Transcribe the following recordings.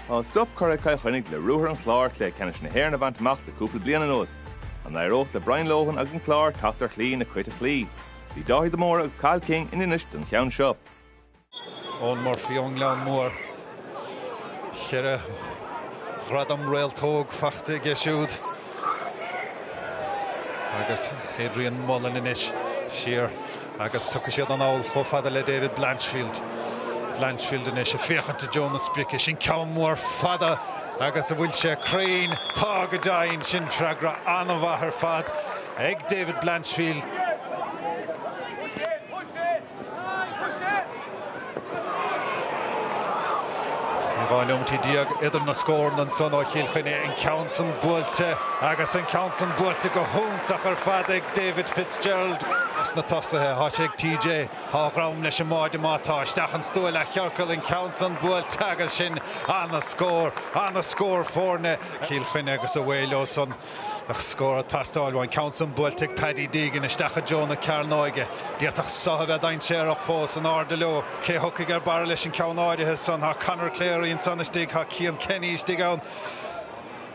Tá stop curtha ag Cill Chainnigh le ruathar an Chláir Cluiche Ceannais na hÉireann a bhaint amach le cúpla bliain anuas. An éireoidh le Brian Lohan agus an Clár teacht ar shlí na Cait a chloí? Bhí Dáithí de Mórdha agus Cathal King in Inis don cheann seo. Eoin Murphy ón nGleann Mór. Cheithre ghradam réaltóg faighte aige siúd. Agus Adrian Mullen anois siar agus tiocfaidh siad anall chomh fada le David Blanchfield. Blanchfield anois ag féachaint i dtreo na sprice. Sin ceann mór fada agus an bhfuil sé cruinn. Tá go deimhin. Sin freagra an-mhaith ar fad ag David Blanchfield. Dhá nóimint déag idir na scóranna ansan ó Chill Chainnigh, an ceann san buailte agus an ceann san buailte go hiontach ar fad ag David Fitzgerald. Dos na tosaithe, thá sé ag TJ, thá a dhrom leis an mbáide má tá, isteach an stua leathchiorcal, an ceann san buailte agus sin ana-scór, ana-scór foirne Chill Chainnigh agus away leo san. Ach scór ag teastáil, thá an ceann san buailte ag Paddy Deegan isteach i dtreo na cearnóige. D'fhéadfadh seo a bheith dainséarach fós. In airde leo. Cé a thiocfaidh ar barra leis an ceann áirithe san? Tá Conor Cleary ansan istigh. Tá Cian Kenny istigh ann.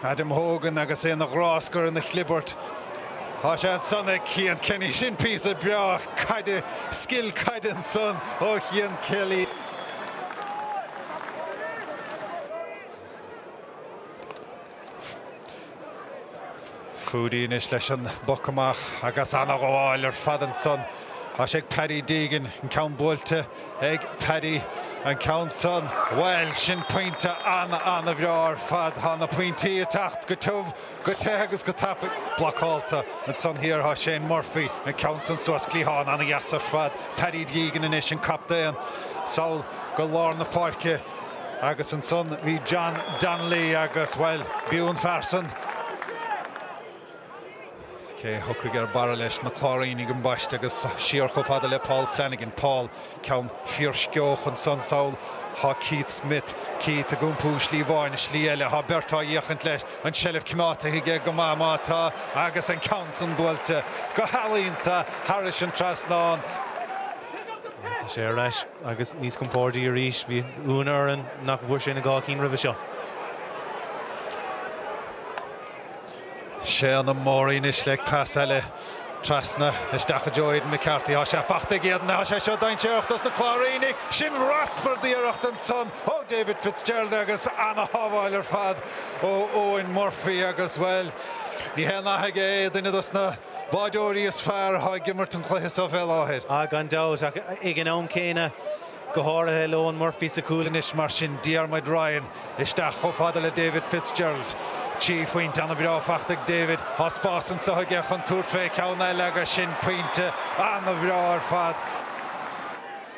Adam Hogan agus é ina ghráscar, ina chlibirt. Tá sé ansan ag Cian Kenny. Sin píosa breá caide, scil caide ansan ó Chian Kelly. Foudy anois leis an bpoc amach agus an-ghabháil ar fad ansan, thá sé ag Paddy Deegan. An ceann buailte ag Paddy. An ceann san, bhuel, sin pointe an-an-an-bhreá ar fad. Tá na pointí ag teacht go tiubh, go te agus go tapaidh. Blocáilte ansan thiar, tá Shane Murphy. An ceann san suas, cliathán ana-dheas ar fad. Paddy Deegan anois, an captaen, sall go lár na páirce. Agus ansan bhí John Donnelly agus, bhuel, b'fhiú an fear san, cé a thiocfaidh ar barra leis, na Cláirínigh ambaiste agus siar chomh fada le Paul Flanagan. Paul, ceann fiarsceoch ansan sall, thá Keith Smyth. Keith ag iompú slí amháin is slí eile. Thá beirt ag féachaint leis, an tseilbh coimeádta aige go maith má tá agus an ceann san buailte go healaíonta thairis an trasnán. Tá sé ar ais. Agus níos compórdaí arís, bhí ionadh orainn nach bhfuair sé na dhá cinn roimhe seo. Séadna Morey anois le pas eile trasna isteach i dtreo Aidan McCarthy. Tá sé faighte ag Aidan. Tá sé seo dainséarach dos na Cláirínigh. Sin raspar d'iarracht ansan ó David Fitzgerald agus ana-shábháil ar fad ó Eoin Murphy agus, bhuel, ní haon nath aige é, duine dos na. báireoirí is fearr atá ag imirt an chluiche seo fé láthair. Ah, gan dabht, ach ag an am céanna, go háirithe le Eoin Murphy sa chúl. Anois mar sin, Diarmuid Ryan isteach chomh fada le David Fitzgerald. Trí phointe ana bhreá faighte ag David. Tá spás anseo aige chun tabhairt fé cheann eile agus sin pointe ana bhreá ar fad.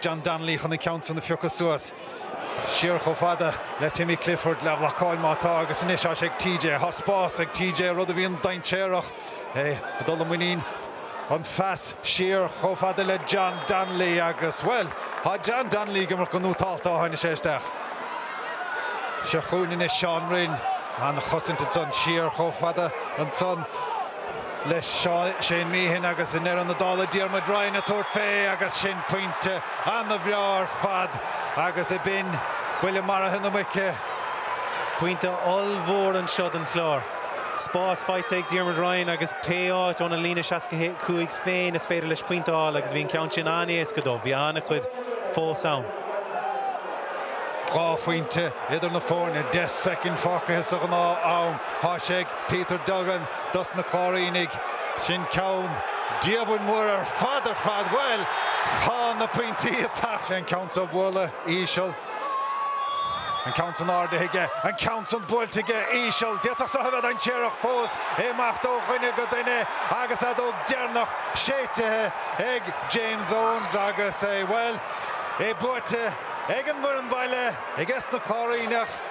John Donnelly chun an ceann san a phiocadh suas. Siar chomh fada le Timmy Clifford leathbhlocáil má tá agus anois tá sé ag TJ. Tá spás ag TJ, rud a bhíonn dainséarach, é ag dul i muinín an phas siar chomh fada le John Donnelly agus, bhuel, tá John Donnelly ag imirt go nótálta ó tháinig sé isteach. Seo chugainn anois Seán Rynne, an-chosaint ansan, siar chomh fada ansan. le Shane Meehan agus i ndeireadh na dála Diarmuid Ryan ag tabhairt fé agus sin pointe ana bhreá ar fad agus ab in buille maraithe na muice. Pointe ollmhór anseo don Chlár. Spás faighte ag Diarmuid Ryan agus pé áit óna líne seasca a cúig féin is féidir leis pointe a fháil agus bhí an ceann sin an-éasca dó. Bhí ana chuid fós ann. Dhá phointe idir na foirne, deich soicind fágtha sa ghnáth am. Tá sé ag. Peter Duggan dos na Cláirínigh. Sin ceann diamhair mór ar fad ar fad. Bhuel, tá na pointí ag teacht. Sé an ceann seo a bhualadh íseal. An ceann san ardaithe aige. An ceann san buailte aige íseal. D'fhéadfadh seo a bheith dainséarach fós. É ag imeacht ó dhuine go duine agus an fheadóg deireanach séitithe ag James Owens agus é, bhuel, é buaite ag an bhfoireann bhaile aiges na Cláiríneach.